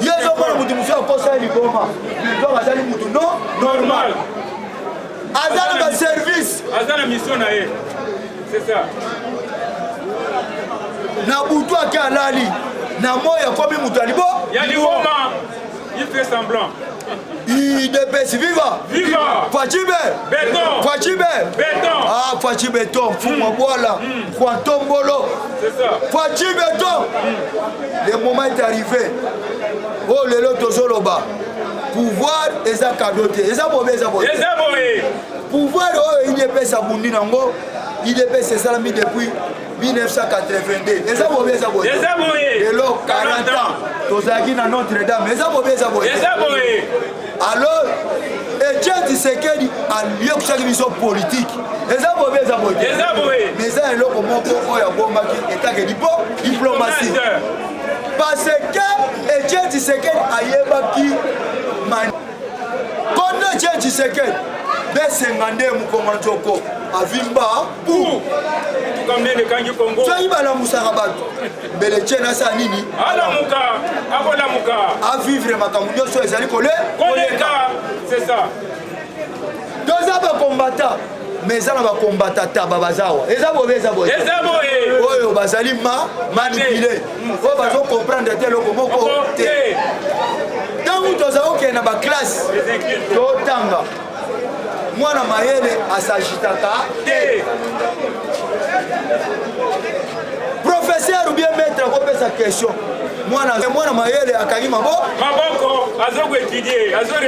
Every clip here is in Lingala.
ye ezomona moto mosusu akosa ye liboma donc azali moto no normal aza na baservice aza na mission na ye c'est ça na butu ake alali na moi akomi moto ya libo ya liboma il fait semblant Udps viva! Viva! Fatshi Be! Beton! Fatshi Be! Beton! Ah, Fatshi Beton, Fuma Boala, Juan Tombolo. C'est ça. Fatshi Beton! Le moment est arrivé. Oh, le lot Tozoloba. Pouvoir, eza cadeau te. Eza bobe, eza bobe. Eza bobe. Pouvoir, oh, il est pesa bundi nango. Il est pesa salami depuis 1982 eza bobe eza boye eza boye lelo 40 ans tozalaki na notre dame eza bobe eza boye eza boye alors etienne tshisekedi aliokusaki biso politike eza bobe eza boye eza boye mais eza eloko moko oyo abombaki etake lipo diplomatie parce que etienne tshisekedi ayebaki mani kondo etienne tshisekedi besenga nde mokongolo nzoko avimba motuka mbele ekangi kongo soki balamusaka bato mbele tie nasala nini alamuka akolamuka avivre makambo nyonso ezali kole koleka c'est ça toza bakombata me eza na bakombata taba baza awa eza bobe eza boye oyo bazali ma manipule mm, oyo bazo comprendre te eloko moko te ntango tozali kokende na baklasse totanga mwana mayele asagitaka te professeur bien maître akopesa question mwana mwana mayele akangi mabo maboko azokoetudie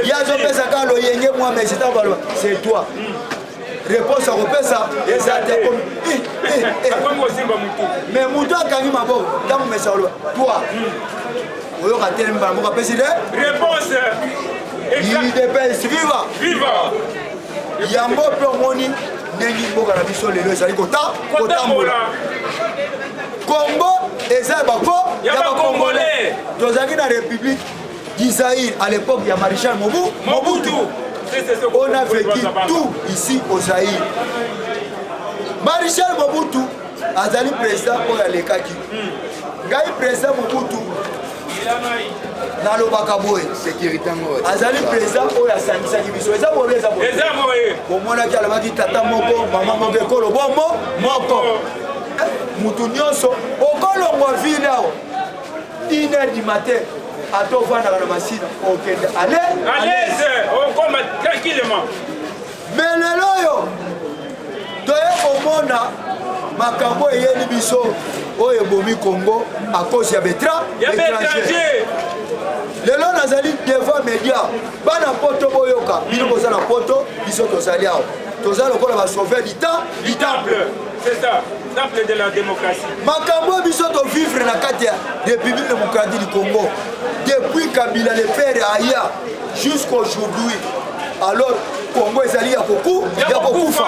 ye azopesa kaka loyenge mwa mais ntango baloba c'est toi hmm. réponse akopesa eza te mais moto akangi maboko ntango mesa oloba toi hmm. oyoka te mbala moko apesi de réponse idps viva viva yango mpe omoni ndenge mboka na biso lelo ezali kotambola congo eza ya bako ya bakongole tozalaki na république d'israïl à l'époque ya maréchal mobu mobutu on a vécu tout ici au zaïr maréchal mobutu azali président oyo alekaki hmm. ngai président mobutu nalobaka boye azali mpenza oyo asangisaki biso eza boye eza boye bomonaki alobaki tata moko mama moko ekolo bomo moko eh, motu nyonso okolongwa vile awa une heure du matin ata ofandaka na masina okende alese okoma tranquillement Mais lelo oyo toye komona makambo eyeli biso oyo ebomi Congo à cause ya betra étranger. lelo nazali devant media bana poto boyoka bino boza na poto biso tozali awa toza lokola basauve lita litample makambo oyo biso tovivre na kati ya république démocratique du congo depuis kabila le père aya jusqu'aujourd'hui alors congo ezali ya koku ya kokufa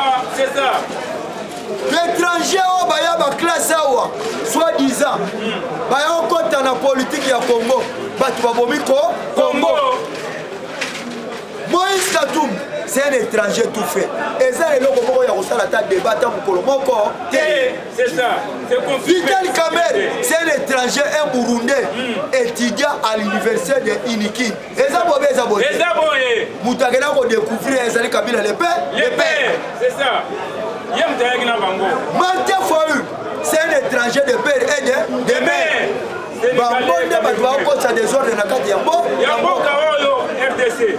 l'étranger oyo baya baklasse awa soit disant baya kokɔta na politike ya congo bato babomi ko congo moïse katum c'est un étranger tout fait eza eloko moko ya kosala ata débat ata mokolo moko te vital kamer c'est un étranger un burundais hmm. étudiant à l'université de iniki eza bobe eza boye eza boye moto akenda kodecouvrir ezali kabila lepe lepe c'est ça ye moto ayaki na bango mante foyu c'est un étranger de père et de de mère bango nde bato bakokosa desordre na kati ya mboka oyo rdc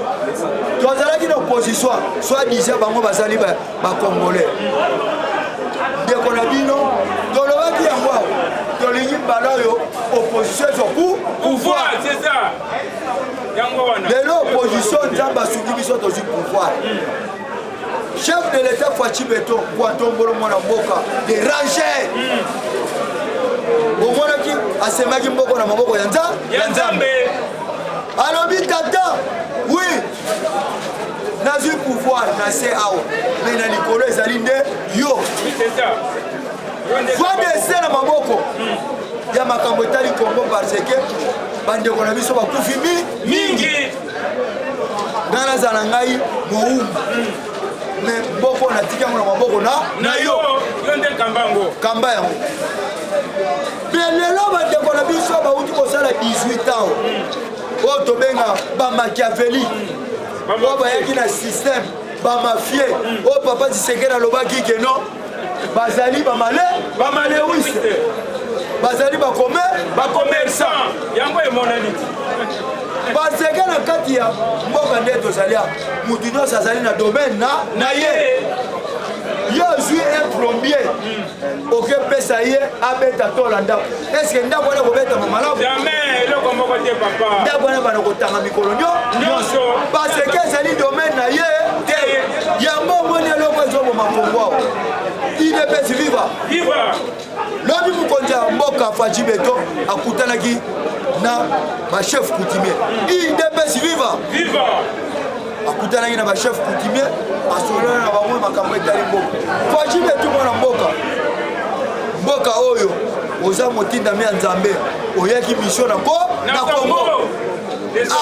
tozalaki na opposition soit disant bango bazali bacongolais ndeko na bino tolobaki yango tolingi mbala oyo opposition ezoku pouvoir lelo opposition nzambe asuki biso tozwi pouvoir chef de l'état faci beton kuatombolo mwana mboka de ranger omonaki asemaki mboko na maboko ya nzambe alobi tata wi nazwi pouvoir na se awa me na likolo ezali nde yo vanda ese na maboko ya makambo etali kongo parce que bandeko na biso bakufi mi mingi ngai naza na ngai mowumba me mboko natiki yango na maboko na na yo yo nde kamba yango kamba yango mpe lelo bandeko na biso bauti kosala 18 ans oyo tobenga bamachiaveli oyo bayaki na systeme bamafie oyo papa zisekele alobaki keno bazali bamale bamalewiste bazali bakome bakomersan yango emonani baseke na kati ya mboka nde tozali awa motu nyonso azali na domaine na na ye yo azwi un plombier okepesa ye abeta tola ndako eske ndako wana kobetama malamu jamais eloko moko te papa ndako wana bana kotanga mikolo nyonso parce que ezali domaine na ye te yango omoni eloko ezoboma kongo awa idepesi viva lobi mokonzi ya mboka faji beto akutanaki na bachef coutumier idepesi viva akutanaki na bachef coutumier asololana na bango makambo etali mboka faji betu mwana mboka mboka oyo oza motindami ya nzambe oyaki misio na ko na kongo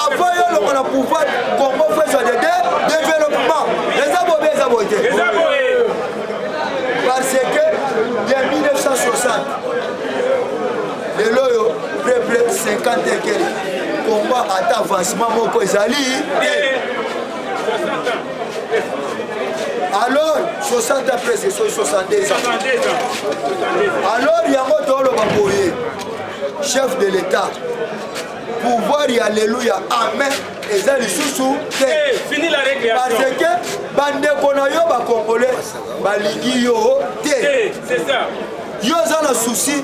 avant yo longo na pouvoir kongo fesa de de développement eza bobe eza boye te parce que ya 1960 lelo oyo près près 50 et quelques combat ata avancement moko ezali te alors 60 ans presque soki 62 ans alors yango toloba boye chef de l'état pouvoir ya alleluya amen eza lisusu te eh, parce que bandeko na yo bakongole balingi yo te yo oza na souci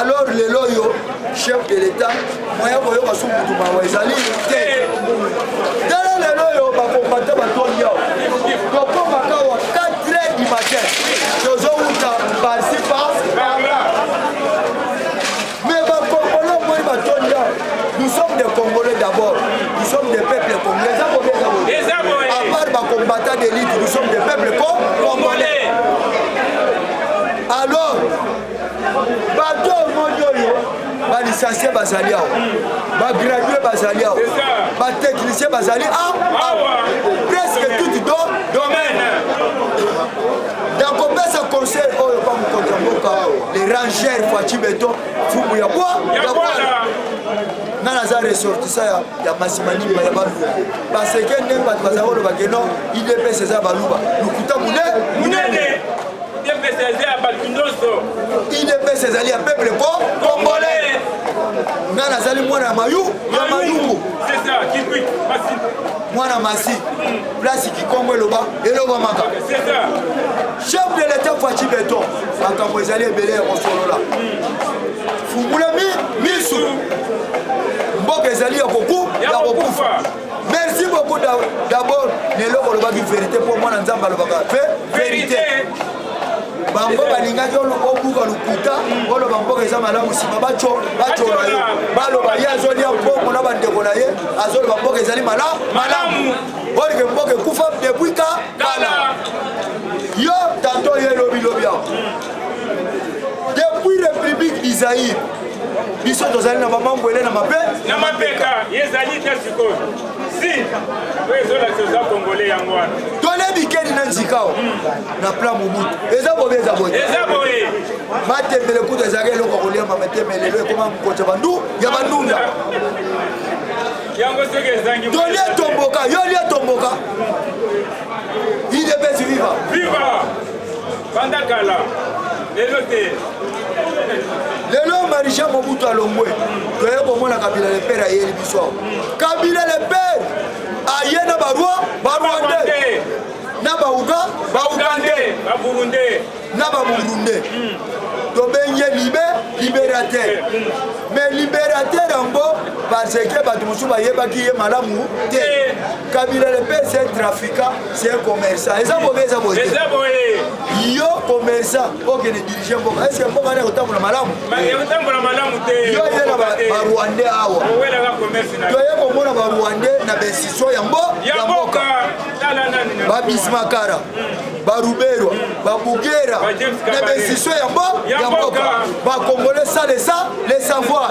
alors lelo oyo chef de l'état moya koyoka su mutu mawa ezali te tala lelo oyo bakombata batondi awa tokomaka wa 4 heures du matin tozowuta parsi par mais bakongolo moi batondi awa nous sommes des congolais d'abord nous sommes des peuples congolais eza bobe eza bobe Eza boye. à part bakombata d'élite nous sommes des peuples congolais bato omoni oyo balisansie bazali awa bagradue bazali awa batechnicien bazali awa presque toute do domaine nakopesa conseil oyo pa mokonzi ya mboka le ranger faci beton fumu ya bwa ya bwana nga naza ressortisa ya, ya masimanima ya baluba baseke ndenge bato bazali kolobake no idps eza baluba lokuta mune munene Udps eza ya bato nyonso. Udps ezali ya peuple ko congolais. Nga nazali mwana ya mayu ya mayungu. C'est ça, Kikwit, Masi. Mwana Masi. Place Kikongo eloba elobamaka. C'est ça. Chef de l'État Fatshi Beton. Makambo ezali ebele ya kosolola. Fungula mi misu. Mboka ezali ya koku ya kokufa. merci beaucoup d'abord na eloko olobaki verité mpo mwana nzambe alobaka pe verité bango balingaki obuka lokuta oloba mboka eza malamu nsima bacola yo baloba ye azolia mbongo na bandeko na ye azoloba mboka ezali malamu malamu olike mboka ekufa depuis ka kala yo tanto ye lobilobi yango depuis république du zaïre biso tozali na bamambwele na mabe na mapeka ezali te sikoyo si oyo ezolakisa oza kongole yango wana tolebi keni na nzikao hmm. na plan mobutu eza bobe eza boye eza boye matembele kutu ezalaki eloko ya kolia mametembele lelo ekoma kokoca bandu ya bandunda tolie tomboka yo lie tomboka idepesi viva viva Banda kala, lelo te. Lelo Marisha Mobutu alongwe, toye komona Kabila le père ayeli biso awa. Kabila le père aye na barwa barwande na bauga baugande na baburunde tobengi ye libe liberateur mais liberateur yango parce que bato mosusu bayebaki ye malamu te kabila le père c'est un trafiquant c'est un commerçant eza bobe eza boye eza boye yo commerçant okende dirige mboka est ce que mboka wana ekotambola malamu ekotambola malamu te yo ye na barwandais awa toye komona barwandais na besisio ya mbo ya mboka babismakara baruberwa babugera na besisio ya mbo ya mboka bakongole sa lesa le savoir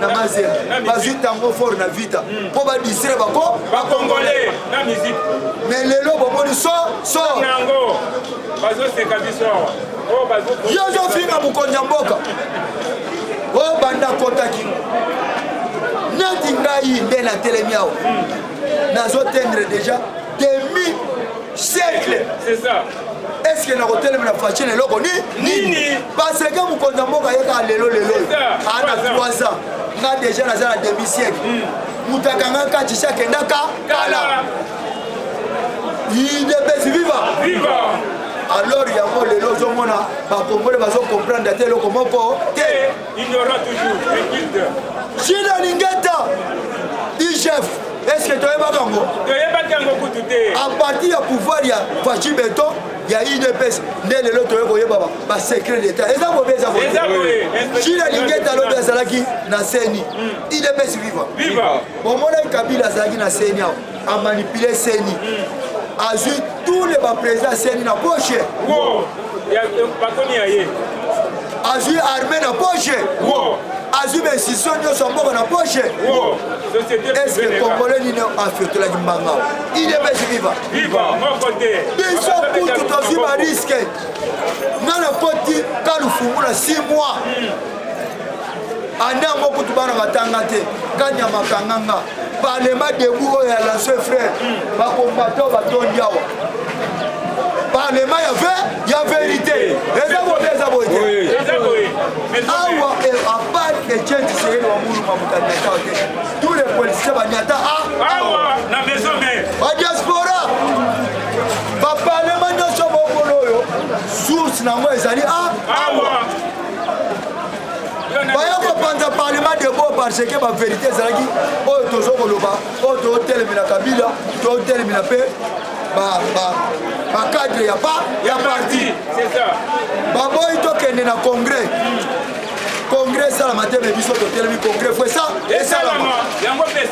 na mazembe bazwi tango fort na vita mpo hmm. badistrai bako bakongole na miziki me lelo bomoni so so yango bazoseka biso awa oh, yo ozofinga mokonzi ya mboka obanda oh, kotaki neti ngai nde natelemi awa hmm. nazotendre deja demi siècle c'est ça eske nakotelemela faci na eloko nini parce que mokonzi ya mboka ayekaka lelo lelo aa na 3 ans nga deja naza na demi siècle moto hmm. akanga kati si akendaka kala idepesi viva alors yango lelo ozomona bakongole bazokomprendre ata eloko moko te Ignorant toujours, inculte. Gilles Alingeta, IGF, est-ce que toyebaka yango toyebaki yango kutu te a partir ya pouvoir ya faci beton ya udps nde lelo toye koyeba basecret d'état eza bobe eza boyejile alingeta lobi azalaki na seni udps viva bomonaki kabila azalaki na seni awa a manipuler CENI azui tous les ba présidents ya CENI na poche wow. ya patoni ya ye azui armée na poche wow. azwi bainstitution nyonso ya mboka na poche eske congolais nini afetolaki mbanga idps viva biso kutu tozwi bariske nga na koti kalufungu na 6 mois anda yango kutu bana batanga te kanyama kanganga Parlement debout oyo ya lancer frère ba combattants ba tondi awa. Parlement ya vrai ya vérité. Eza bo eza bo ete. Eza bo. Awa et à part que Dieu du Seigneur wa mulu ma mutanya ta ote. Tous les politiciens ba nyata a. Awa na maison mère. Ba diaspora. Ba parlement nyoso bo kolo yo. Source na ngo ezali a. Awa. parce que baverité ezalaki oyo tozo koloba oyo totelemela kabila totelemela mpe bacadre ya parti baboyi tokende na congrès congrès esalama te me biso totelemi congrès fo esa esalama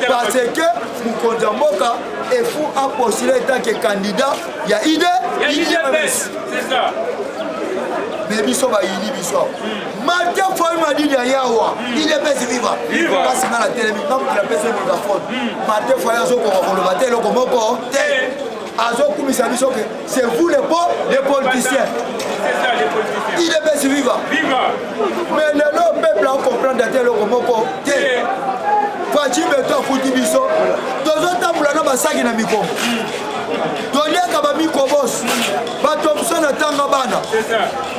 parce que mokonzi ya mboka efu apostule etanke candidat ya ide me biso bayini biso mate foi madidi ya yawa ide pesi viva kasi nga natelemi ngamukila pesi megafone mate foi azokoka koloba te eloko moko te azokumisa biso ke c'est vous le po le politicien ide pesi viva me lelo peuple akomprendre ate eloko moko te faci beto akuti biso tozotambola na basaki na mikongo toliaka bamikobos batomson atanga bana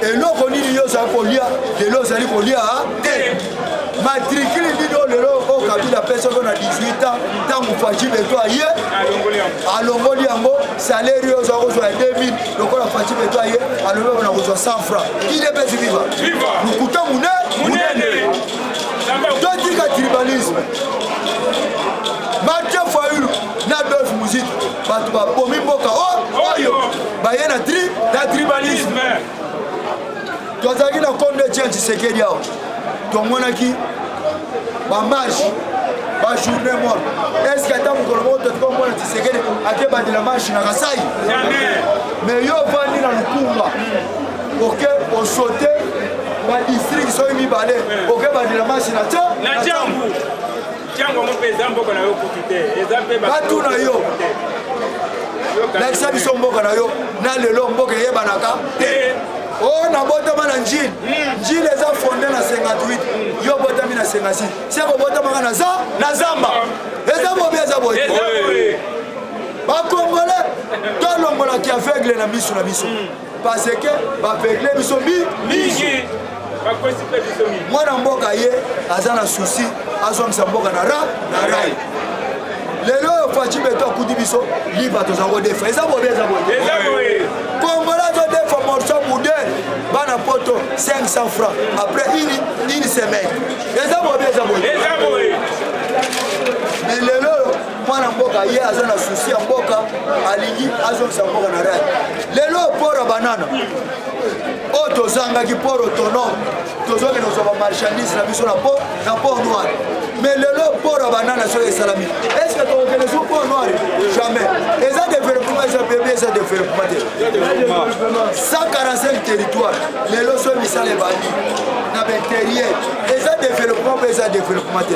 eloko nini yo ozali kolia lelo ozali kolia te matrikile nini oyo lelo oyo kabila apesaki na 18 ans ntango faci beto aye alongoli yango saleri oyo ozwa kozwa ya 2000 lokola faci beto aye alobeko na kozwa 100 franc idepesi viva lokuta mune munene totika tribalisme na dolf musique bato babomi mboka oyo baye na tri na tribalisme tozalaki na kombe tia tshisekedi awa tomonaki bamarche bajourne mor eske ata mokolo moko totika omona tshisekedi akebandela marche na kasai me yo ovandi na lukumba oke osote badistrike soki mibale oke bandela marche na tia na jambu Tiango yango mpe eza mboka na yo kutu te eza mpe batu na yo lakisa biso mboka na yo na lelo mboka eyebanaka te o oh, nabotama na njile hmm. njile eza fonde na 58 yo obotami na 56 se kobotamaka na za na zamba eza bobi eza boye bakongole tolongolaki aveugle na miso na biso hmm. parce que baveugle biso mingi mwana mboka ye aza na susi azongisa mboka na ra na rai lelo oyo faci beto akuti biso liba toza kodefa eza bobe eza boye kongola azodefa morso bude bana poto 500 franc après une, une semaine eza bobe eza boye mais lelo mwana mboka ye aza na susi ya mboka alingi azongisa mboka na rai lelo port ya banana oyo tozangaki port autonome tozokende kozwa bamarchandise na biso na port na port noir mais lelo port ya banana soki esalami est ce que tokokende su port noir jamais eza développement eza bebe eza développement te 145 territoire lelo soki misala ebandi na bainterieur eza développement mpe eza développement te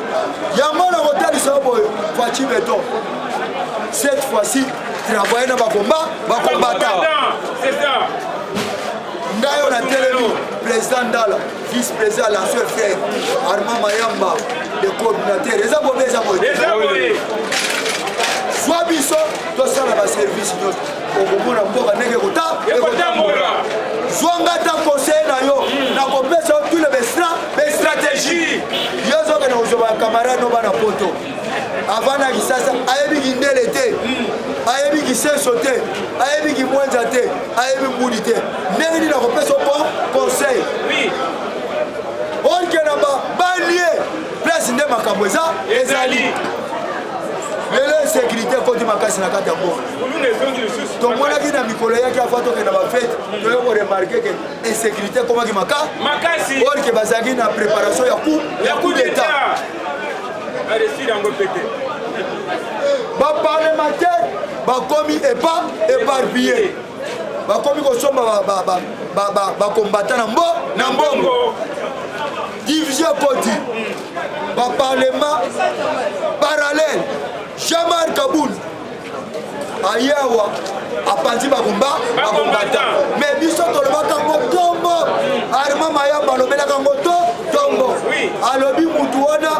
yango nakotalisa yo boye faci beton cette fois-ci travaille na bakomba bakombata ngai oyo natelemi président ndala vice président la seul frère armand mayamba le coordinateur eza bobe eza boye zwa biso tosala baservice nyonso okomona mboka ndenge ekotambola zwa nga ata conseil na yo hmm. nakopesa yo tule bestra bestratégie yo ezokende kozwa bakamarade no bana poto avanda kisasa ayebi kindele te hmm. ayebi kisenso te ayebi kimwenza te ayebi mbudi te ndenge nini nakopesa yo conseil olke na babalie place nde makambo eza ezali lelo insécurité ekoti makasi na kati ya mboka tomonaki na mikolo yaki afa tokende na bafete toye koremarke ke insécurité ekomaki makasi orke bazalaki na préparation ya coup ya coup d'état baparlementaire bakomi epa éparpillé bakomi kosomba bakombata na mbo na mbongo division ekoti baparlement parallèle jean-marc kabund aye awa apanzi babomba babombata me biso tolobaka ngo tombo arma mayamba alobelaka ngo to tombo alobi mutu wana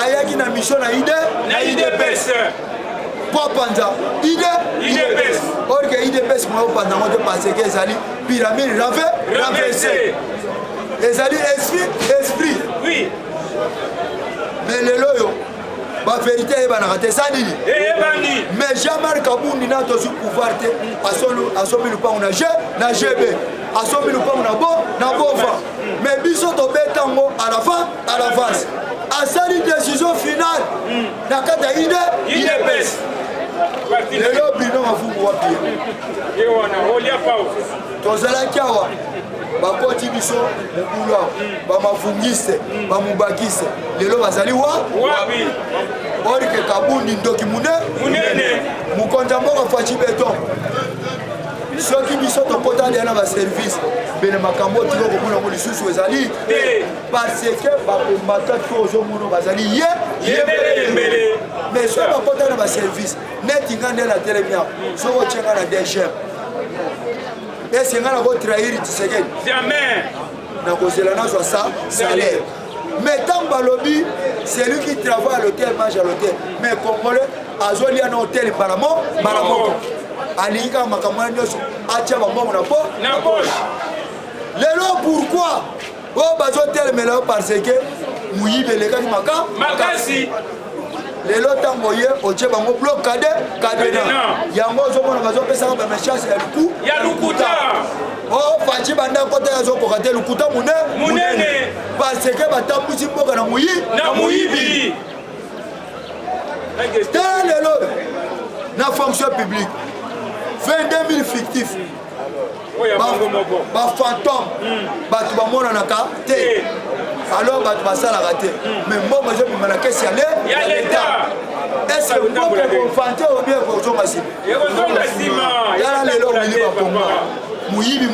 ayaki na misio na ide na idps mpo apanza ide idps orke idps moya opanza ngo te parce que ezali pyramide rave ravese ezali esprit esprit mais lelo oyo ba verité eyebanaka te eza nini eyebani mais jean marc abundi na tozwi pouvoir te asombi lupango na g na gb asombi lupango na bo na bova mais biso tobeta yango à l'avant à l'avance asali décision finale na kati ya ide idps lelo bino mafumu wapi tozalaki awa bakoti biso mobulu bamavungiste bamubakiste lelo bazali wa orike kabundi ndoki munene mokonzi ya mboka faci beton soki biso tokotali yana baservice bene makambo oyo tiko komona yango lisusu ezali te parce que bakombata to ozomona bazali ye yembeleyembele mais soki bakotali na baservice neti nga nde na telemi yango soki otyenga na dgm Eske nga nako trahir Tshisekedi? Jamais. Nakozela nazwa sa salaire. Mais ntango balobi celui qui travaille à l'hôtel mange à l'hôtel mais congolais azolia na hôtel mbala mo mbala moko alingi kaka makambo wana nyonso atya bambongo na po na poche lelo pourquoi oyo oh, bazotelemela yo parce que moyibi elekaki maka makasi lelo ntango oye otye bango blok kade kadena yango ozomona bazopesaka bamechance ya luku ya lukuta o oh, faci banda kota ye azokoka te lukuta mune munene parce que batambusi mboka na moyi na moyibi te lelo na fonction publique 22 000 fictif bafantome bato bamonanaka te eh. alors bato basalaka te hmm. mais mbongo ezobima na kesi ya leta eske mbongo ekofante obie ekozonga nsima yala lelo omili bakongo moyibi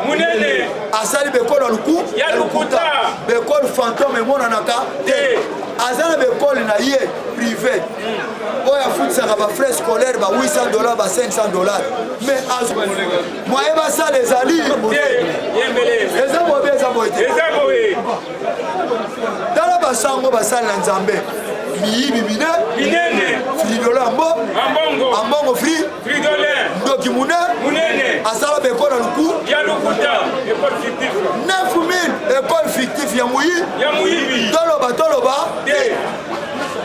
monene asali bekolo ya luku ya lukuta bekolo fantome emonanaka te eh. aza na bekolo na ye prive hmm. oyo afutisaka ba frais scolaire ba 800 dollars ba 500 dollars mais moye basala ezali eza bobe eza boye te tala basango basali na nzambe miyibi mine fridole ambo ambongo fri ndoki mune asala beko na luku 9000 ekole fictif ya moyibi toloba toloba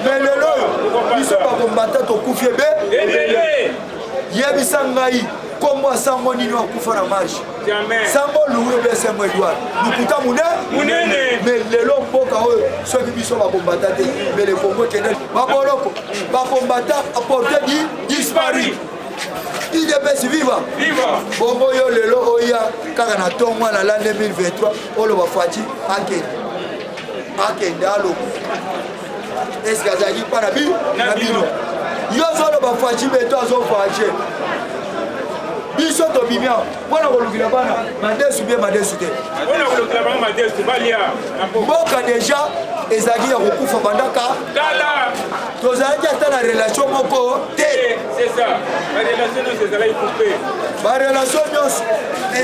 mais lelo oyo biso bakombata tokufi ebe yebisa ngai nkombo ya sango nini akufa na marche sango luwe be sango edward lokuta monene me lelo mboka oyo soki biso bakombata te mbele kongo ekende baboloko bakombata aporte di dispari idps viva bongo yo lelo oya kaka na ntongo alala 2023 oloba fati akende akende aloba eske azalaki mpa na bino na bino yo ozoloba faci beto azoface biso tobimia mpo na kolukila bana madesu bie madesu te mboka deja ezalaki ya kokufa bandaka tozalaki ata na relation moko te barelation nyonso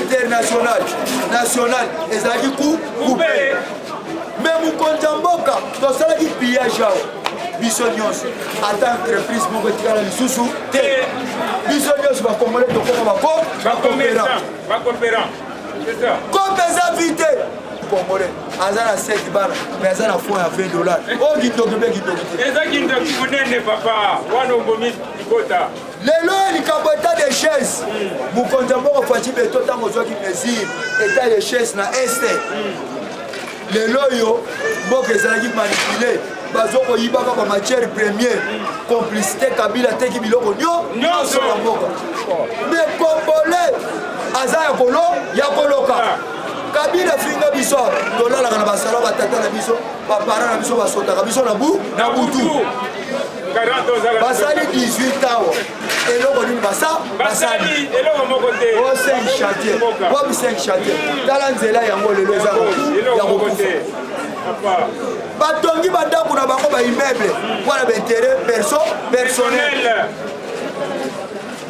internationale nationale ezalaki ku kupe me mokonzi ya mboka tosalaki pillage awa biso nyonso ata entreprise moko etikala lisusu te biso nyonso bakongole tokoma bako bakopera kope eza vi te congolais aza na 7 bana mais aza na fond ya 20 dollars oyo oh, kindoki mpe kindoki te eza kindoki monene papa wana obomi likota lelo oyo likambo etat de chaise mokonzi ya mboka faci beto ntango ozwaki mesure etat de chaise na este lelo oyo mboka ezalaki manipule bazokoyibaka ba matière première complicité kabila ateki biloko nyonso ya mboka mais congolais aza ya kolo ya koloka ah. kabila finga biso tolalaka na basalo batata na biso baparent na biso basotaka biso na butu basali 18 awa eloko nini basa basali eloko moko te o 5 chantier bobi 5 chantier tala nzela yango lelo eza ya kokufa batongi bandako na bango baimmeuble mpo na bainteret perso personnel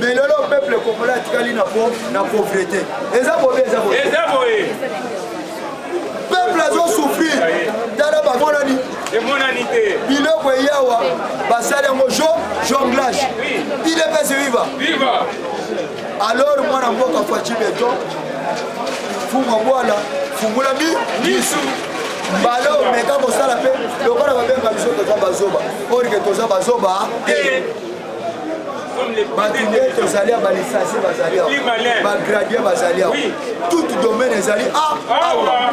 mais lelo peuple congolais atikali na pauvreté eza bobe eza boye peuple azo souffrir tala bamonani emonani te biloko eyawa basali yango jo jonglage idps viva viva alors mwana mboka faci beton fuma bwala fungula mi misu mbala oyo meka kosala mpe lokola babenga biso toza bazoba orike toza bazoba te bato nde tozali ya balisasi bazali awa bagradie bazali awa tout domaine ezali awa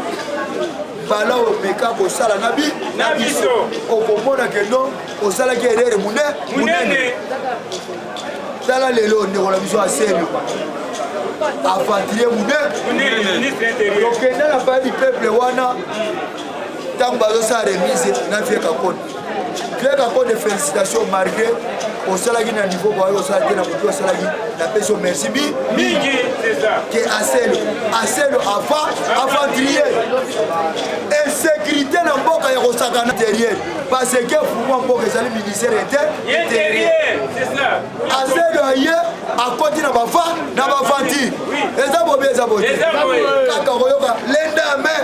bala omeka kosala na bi na biso okomona kendo osalaki erere monene tala lelo ndeko na biso aselu aventurier monene tokenda na bayebi peuple wana ntango bazosala remise na vieux kakoni Greg encore des félicitations malgré osalaki na niveau boye osala te na motu osalaki napesi yo merci bi mingi ke aselo aselo afa aventurier insécurité na mboka ya kosakana interieur parce que fuma mboka ezali ministère ete aselo aye akoti na bafa na bavanti eza bobe eza boye kaka koyoka lenda main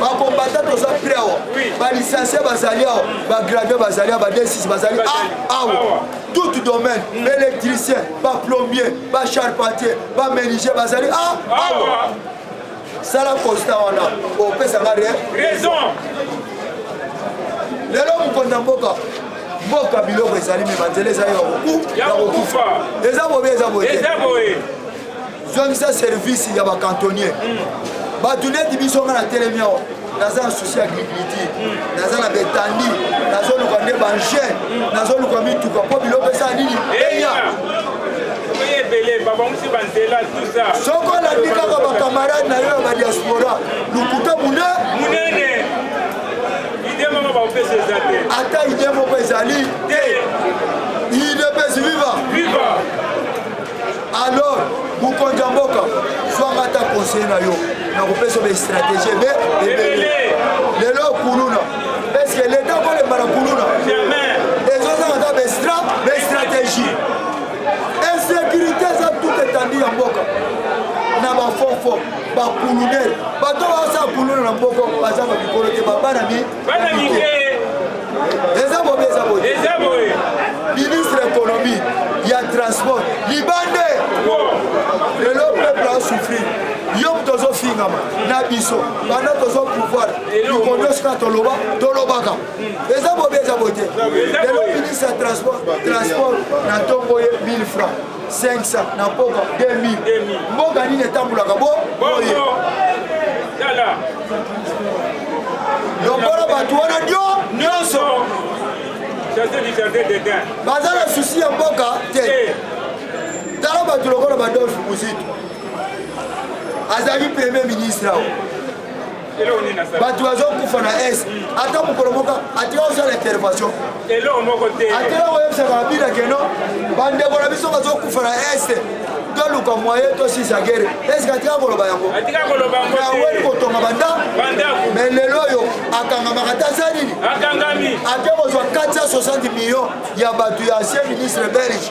bakombata toza pre awa balicencie bazali awa bagradue bazali awa badesis bazali awa tout domaine baélectricien mm. baplombier bacharpentier baméniger bazali awa sala constat wana opesanga raison lelo mokonzi ya mboka mboka biloko ezali me banzela ezali ya kokufa eza bobe eza boye zongisa service ya bacantonnier bato neti biso nga na telemi awa naza na souci ya agriculture naza na betandi nazoluka nde bange nazoluka mituka mpo biloko eza nini eya soko olandi kaka bakamarade na yo ya badiaspora lokuta munene ata ide moko ezali te idepesi viva alors mokonzi ya mboka zwanga ata conseil na yo nakopesa ba stratégie ebe ebele lelo kuluna eske leta kolemba na kuluna ezozanga ata bestra bestratégie insécurité eza tout etandi ya mboka na bafofo bakulunere bato baosa kuluna na mboko bazanga mikolo te babana mi Bana mike. Eza bobe eza bobe. Eza bobe. Ministre économie ya transport libande. Lelo peuple a souffrir. yo moto ozofingama na biso banda tozo pouvoir likondo sika toloba tolobaka eza bobe eza bote lelo ministre ya transport transport na ntongo ye 1000 francs 500 na pokwa 2000 mboka nini etambolaka bo boye lokola bato wana ndio nyonso baza na susi ya mboka te eh. tala bato lokola badolfe muzitu azali premier ministre awa bato bazokufa na est ata mokolo moko atika osala intervention atela koyebisaka babina keno bandeko na biso bazokufa na est toluka moye tosisa gere eske atika koloba yango aweli kotonga banda me lelo oyo akangamaka ta za nini ake kozwa 460 million ya bato ya ancien ministre belge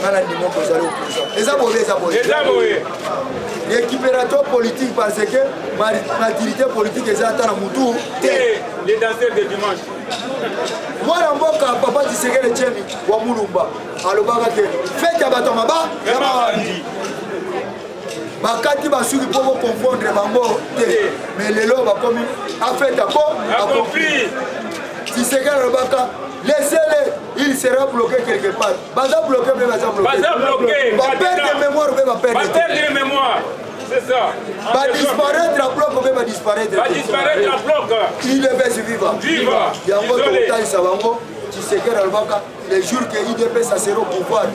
nga na ndimo kozali opposition eza boye eza boye eza boye récupérateur politique parce que maturité politique eza ata na mutu te les danseurs de dimanche mwana mboka papa tisekele chemi wa mulumba alobaka te fete ya bato ya maba ya mabandi bakati basuki mpo boconfondre bango te mais lelo bakomi afete ako akompli tisekele alobaka lesele il sera bloqué quelque part baza bloqué mpe baza bloqué baperde mémoire mpe baperde mémoire badisparaitre ya bloc mpe badisparaitre idps viva yango tokotalisa bango tisekere alobaka le jour ke idps asero pouvoir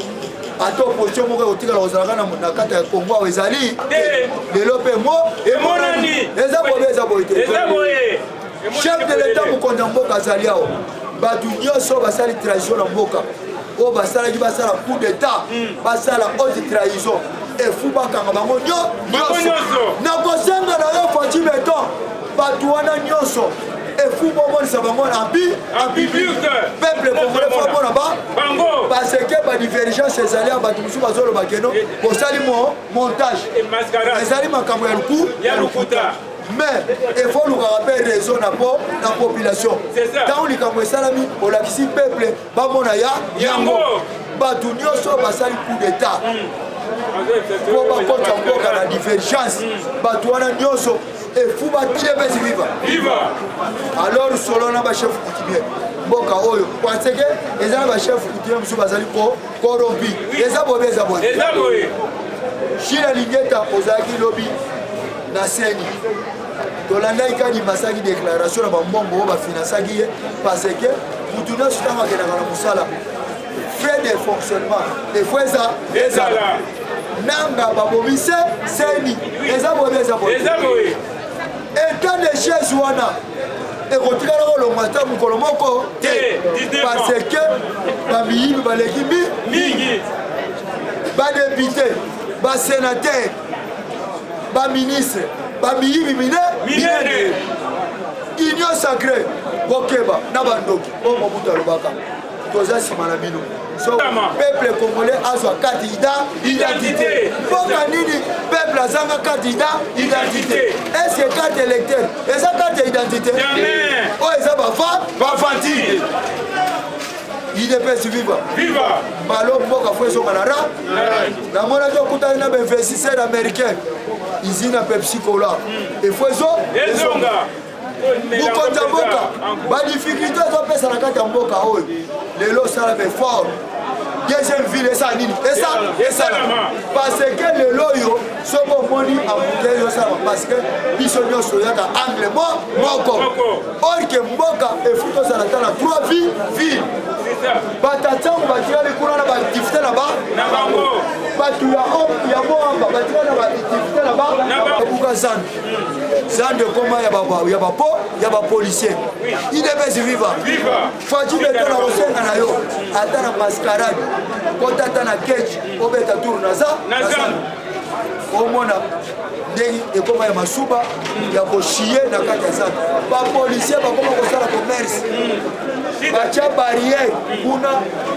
ata opposition moko ekotikala kozalaka na kati ya kongo awa ezali lelo mpe mo emonani eza bobe eza boye te chef de l'etat mokonzi ya mboka azali awa bato nyonso basali trahison na mboka oyo basalaki basala coup d'etat hmm. basala haute trahison efu bakanga bango nyonso nakosenga na yo faci beton bato wana nyonso efu bomonisa bango abibiuke peuple congolais fo mpo na bango parce que badivergence ezali ya bato mosusu bazoloba keno bosali montage ezali makambo ya luku ya lokuta mais efo olukaka mpe raison na po na population ntango likambo esalami olakisi peuple bamona ya yango bato nyonso basali coup d'état hmm. po bakota mboka na divergence hmm. bato wana nyonso efuba tiepesi viva alors solo na bachef coutumier mboka oyo parce que eza na bachef coutumier mosusu bazali ko corrompu eza bobe eza boye shila lingeta ozalaki lobi na seni tolandaki kadi basaki déclaration na bambongo oyo bafinansaki ye parce que mutu nyonso ntango akendaka na mosala frais de fonctionnement efo eza ezala nanga babomi se seni eza boye eza boye etat de chaise wana ekotikala kolongwa ata mokolo moko te parce que bamiyibi baleki mingi badepute basenatere baministre bamiyibi minene union sacré kokeba na bandoki oyo mobutu alobaka toza nsima na bino so peuple congolais azwa kandida identité mboka nini peuple azanga kandida identité eske carte électeur eza carte ya identité oyo eza bavantide idps viva viva balo mboka fo ezonga na ra namonaki okutani na bainvestisseur américain usine ya pepsi cola efo ezonga mokonzi ya mboka badifficulté ezopesa na kati ya mboka oyo lelo osala befort deuxième ville esala nini esalama parce que lelo oyo soki omoni ambutei yosalama parce que biso nyonso oyaka angle mo moko orke mboka efuti ozala ata na trois ville ville batatsango batikali kuna na baaktivité na bango bato ya moamba batikali na baaktivité na bango ebuka zambi zando ekoma ya bapo ya bapolicier idps viva faci beto na kosenga na yo ata na mascarade kota ata na keji obeta tour naza omona ndenge ekoma ya masuba ya koshiye na kati ya zando bapolisier bakoma kosala commerce batya barriere kuna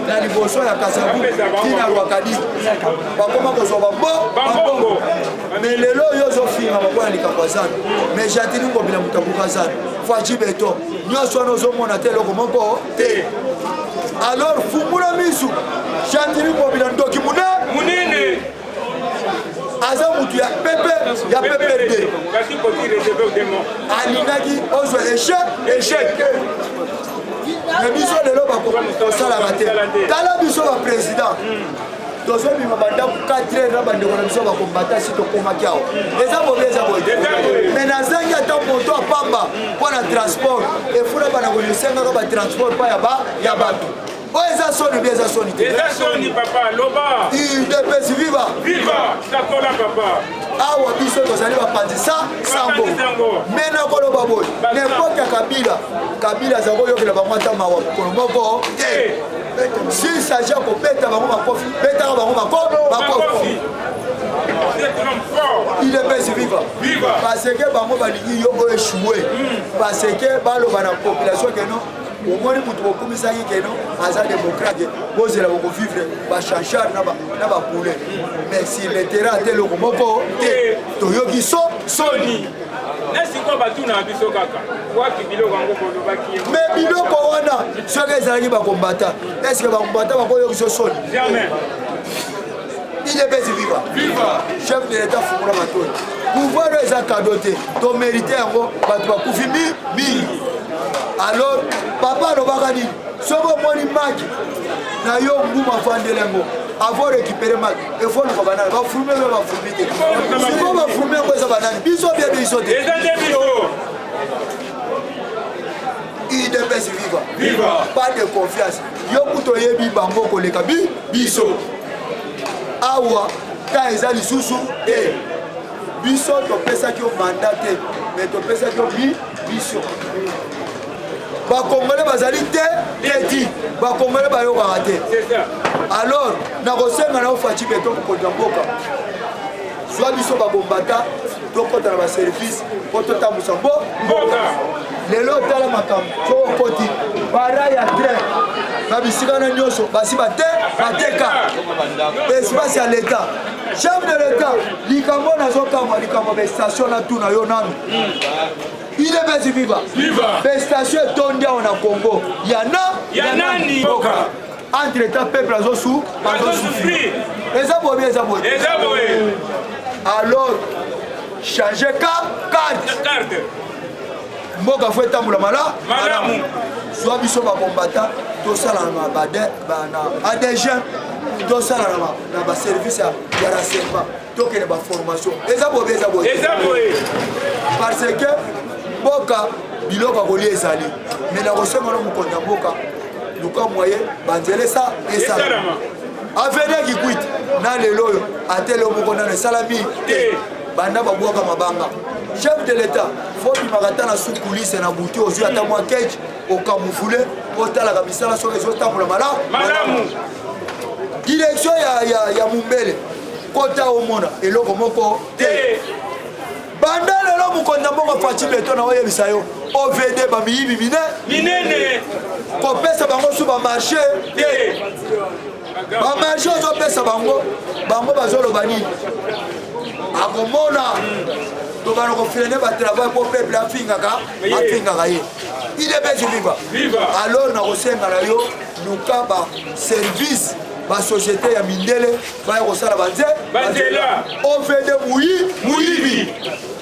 na liboso ya kasabu tina rwakadi bakoma kozwa bambongo mais lelo oyo ozofingama mpo na likambo ya zando mais jatini ngobila moto abuka zando faci beton nyonso wana ozomona te eloko moko te alors fungula misu jatini ngobila ndoki mune munene aza motu ya pepe ya pepe te alingaki ozwa echec echec mais biso lelo bakosalaka te tala biso baprésident tozobima bandako 4 heure na bandeko na biso bakombata si tokomaki awa eza bobi eza boye me nazangi ata moto apamba mpo na transport efula bana kolisengaka batransport mpa ya bato oyo oh, eza soni bi eza soni te eza soni papa loba udps viva viva takola papa awa biso tozali bapanzi sa sango me nakoloba boye nepote ya kabila kabila aza koyokela bango ata mawa mokolo moko te s'il s'agit ya kobeta bango makofi betaka bango makofi il est pesi viva parce que bango balingi yo oyo echoue hmm. parce que baloba na population keno omoni moto bokumisaki keno aza démocrate bozela bokovivre bachanchar na bapoule mais siletera te eloko moko te toyoki so soni me biloko wana soki ezalaki bakombata eske bakombata bakoyokiso soni idepesi viva chef de leta fungula matoi pouvoir oyo eza kado te tomerite yango bato bakufi mingi alors papa alobaka nini soki omoni maki na yo nguma afandeli yango avant récupérer maki efo luka banani bafrume mpe bafrumi te siko bafrume yango eza banani biso bie biso te idps viva viva pas de confiance yo kutu oyebi bango koleka bi biso awa ta eza lisusu te biso topesaki yo manda te me topesaki yo bi biso bakongole bazali te tedi bakongole bayokaka te alors nakosenga na ofaci beto mokonzi ya mboka zwa biso babombata tokota na baservice mpo totambusa mbo mboka lelo otala makambo soko okoti bara ya train na bisika na nyonso basi bate bateka espace ya leta chef de leta likambo nazokamwa likambo bestation natuna yo nanu udps viva bestation etondi awa na congo yana ya nani entre temps peuple azosu azosufri eza bobi eza boye alors change ka carte mboka fo etambola mala malamu zwa biso bakombata tosala na adg tosala na baservice ya renseignement tokende baformation eza bobe eza boye eza boye parce que mboka biloko ya kolia ezali me na kosenga no mokonzi ya mboka luka moye banzela esa esalama avenir kikwit na lelo oyo atele moko nano esalami te banda babwaka mabanga chef de l'état fobimaka ata na sukulise na butu ozwi ata mwa kage okamufule otalaka misala soki ezotambola malamu direction ya, ya, ya mumbele kota omona eloko moko te banda lelo mokonzi ya mbongo faci beto na oyebisa yo ovd bamiyibi mine minene kopesa bango su bamarche te bamarche ozopesa bango bango bazoloba nini akomona tokana kofrene batravai mpo peuple afingaka afingaka ye idebesi viva alors nakosenga na yo luka baservice basociété ya mindele baya kosala banze banzela ovende muyi muyibi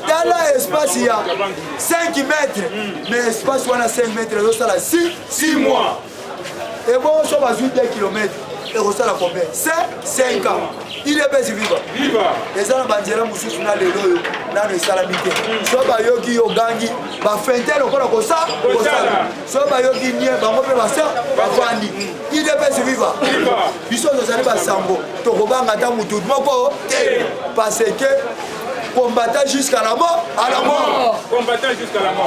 tala espace ya 5 mètre mais espace wana 5 mètre ezosala 6 mois ebongo so bazwi 2 kilomètre ekosala combien 5 ans ile pesi viva eza na banzela mosusu na lelo oyo nano esalami te so bayoki yo gangi bafente lokola kosala soki bayoki nie bango mpe basa bafandi idps viva biso tozali basango tokobanga ata motu moko te parce que combattant jusqu'à la mort à la mort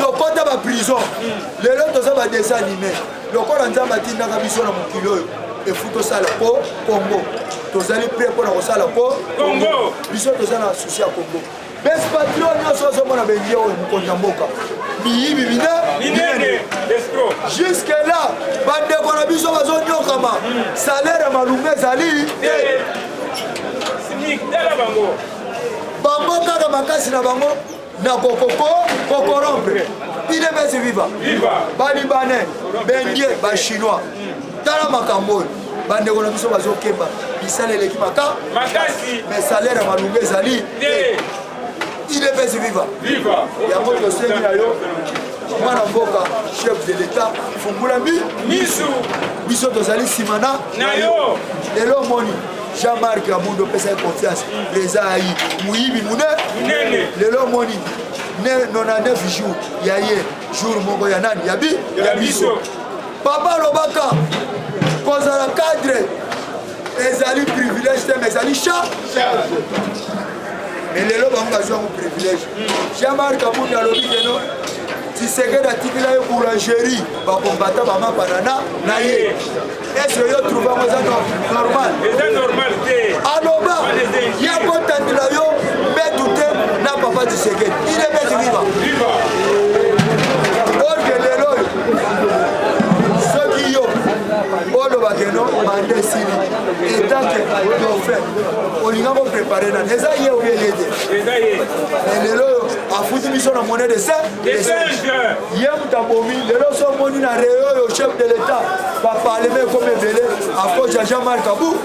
tokota baprison hmm. lelo toza badesanime lokola nzambe atindaka biso na mokili oyo efu tosala po congo tozali pre mpo na kosala po biso toza na susi ya congo Best patron nyoso ozo mona bengi oyo mokonzi ya mboka miyibi bina minene jusque là bandeko na biso bazonyokama salaire ya malunga ezali te bango kaka makasi na bango na kokoko kokorompre ide besi viva balibanais bendie bachinois tala makambo oyo bandeko na biso bazokemba misala eleki maka makasi mais salaire ya malunga ezali te idps viva yango tosengi na yo mwana mboka chef de l'etat fungula mi misu biso tozali nsima na na yo lelo omoni jean-marc abundo opesaki confiance reza ayi moyibi monene lelo omoni 99 jours ya ye jour moko ya nani ya bi ya biso Papa alobaka kozala cadre ezali privilège te mais ezali cha mais lelo bango bazwa yango privilège jean marc kabunda alobi keno tisekedi atikila ye boulangerie bakombata bamapanana na ye ese yo trouve yango eza normal aloba ya kotandela yo mbetu te na papa tisekedi soki yo oloba ke no banda esili etanke dauphin olinga koprepare nani eza ye oye ye te lelo oyo afuti biso na mone de saint ye moto abomi lelo so omoni na reo oyo chef de l'état baparleme ekomi ebele akoz ya jean marc abu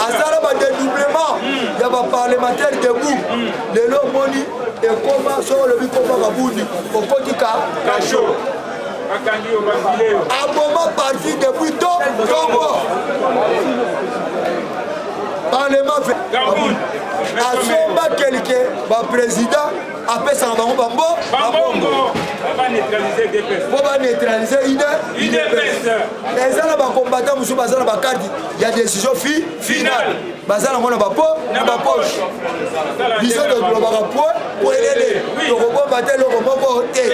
asala badedoublement ya baparlementaire debout lelo omoni ekoma soki olobi koma babundi okotika kasho aboma parti depuis to tobo parlement asomba kelke baprésident apesaka bango bambo babongo mpo baneutralize ide eza na bakombata mosusu baza na bakarte ya décision fi final baza nango na bapo na bapoche biso tolobaka po po elele tokobomba te eloko moko te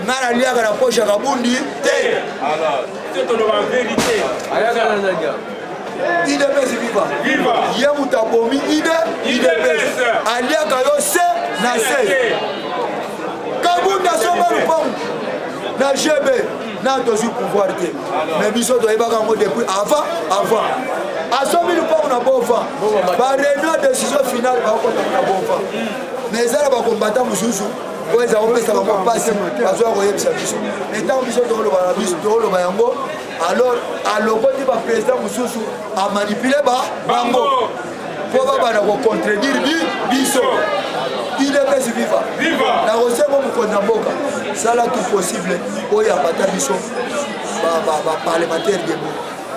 nga naliaka na poche ya kabundi te idps viva ye moto abomi ide idps aliaka yo se na se kabunda asomba lupangu na gb na tozwi pouvoir te mais biso toyebaka yango depuis avant avant asomi lupango na bova bareunion ya décision finale bakotaka na bova mais eza na bakombata mosusu oyo eza kopesa bango mpasi bazwa koyebisa biso etango biso tokoloba na biso tokoloba yango alors alokoti baprésident mosusu amanipule bango mpo babanda kocontredire biso idps viva nakosengo mokonzi ya mboka sala tout possible oyo abata biso baparlementaire debo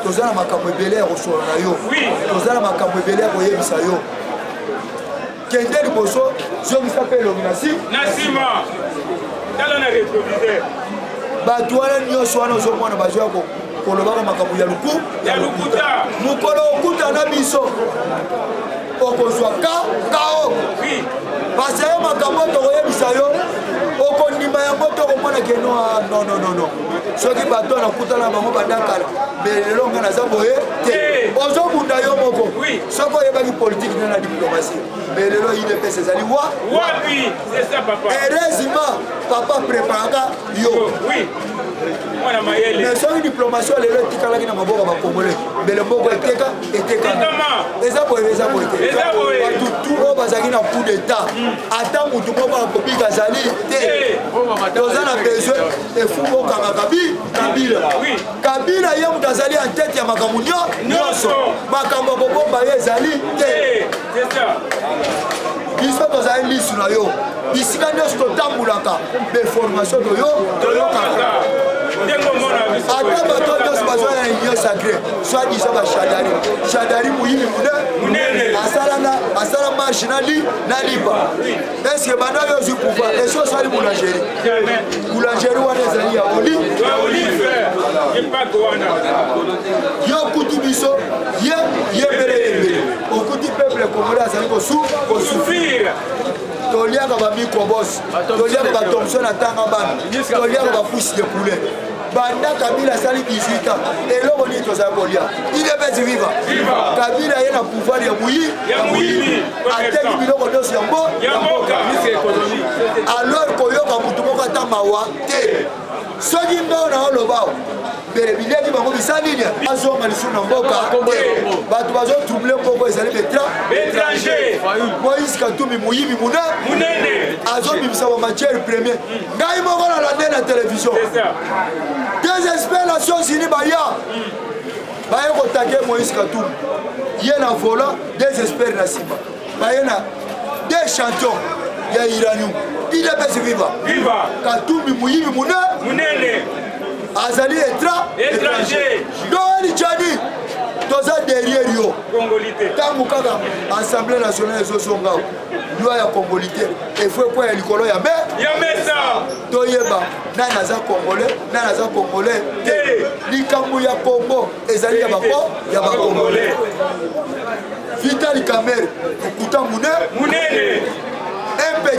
toza na makambo ebele ya kosolo na yo toza na makambo ebele ya koyebisa yo kende liboso zongisa mpe elongi na nsima tala na retroviseur bato wana nyonso wana ozomona bazoya kolobaka makambo ya luku ya lokuta mokolo okuta na biso okozwa ka kao pasa yo makambo tokoyebisa yo okondima yango tokomona ke noa nononono soki bato wana okutana na bango bandakala belelo ngai naza boye te ozobunda yo moko soki oyebaki politiki nde na diplomasi belelo idps ezali wa wapi erezima papa preparaka yo oui mwana mayele mais soki diplomation lelo etikalaki na maboko ya bacongolais mbele mboko eteka etekana eza boye eza boye te bato tout oyo bazalaki na coup d'état ata motu moko akobika azali te eh. toza na besoin efumu okanga kabi kabila kabila ye moto azali en tete ya makambo nyonso makambo ya kobomba ye ezali te eh. biso tozali lisu na yo bisika nyonso totambolaka beformation toyo toyokaka ata bato nyonso bazwa na union sacré soit disant bashadari shadari moyibi monene asala marche na lipa Est-ce que banda yo ozwi pouvoir esi osali boulangerie boulangerie wana ezali ya olive yo okuti biso ye yembele yembele okuti peuple congolais azali kosufrire toliaka bamicrobos toliaka batomson atanga bana toliaka bapusi de poulet banda kabila asali 18 ans eloko nini tozali kolia idps viva kabila ye na pouvoir ya buyi ya moyini ateki biloko nyonso ya mbo ya mboka alors koyoka motu moko ata mawa te soki mbao na olobao bileki bango bisa nini azonga lisusu na mboka bato bazotrouble moko ezali betranger moïse katumbi moyibi monene azobimisa bamatière premier ngai moko nalande na televizio des experts nations unis baya baye kotake moïse katum ye na vola des experts na nsima baye na des champions ya iranium idps viva katumbi moyibi munene azali étranger doeli chani toza derrière yo ntango kaka assemblée nationale ezozonga loi ya congolite efo ekwa ya likolo ya me ya mesa toyeba nani aza congolais nani aza congolais te likambo ya congo ezali ya bako ya bacongolais vital kamere okuta mune munene mpe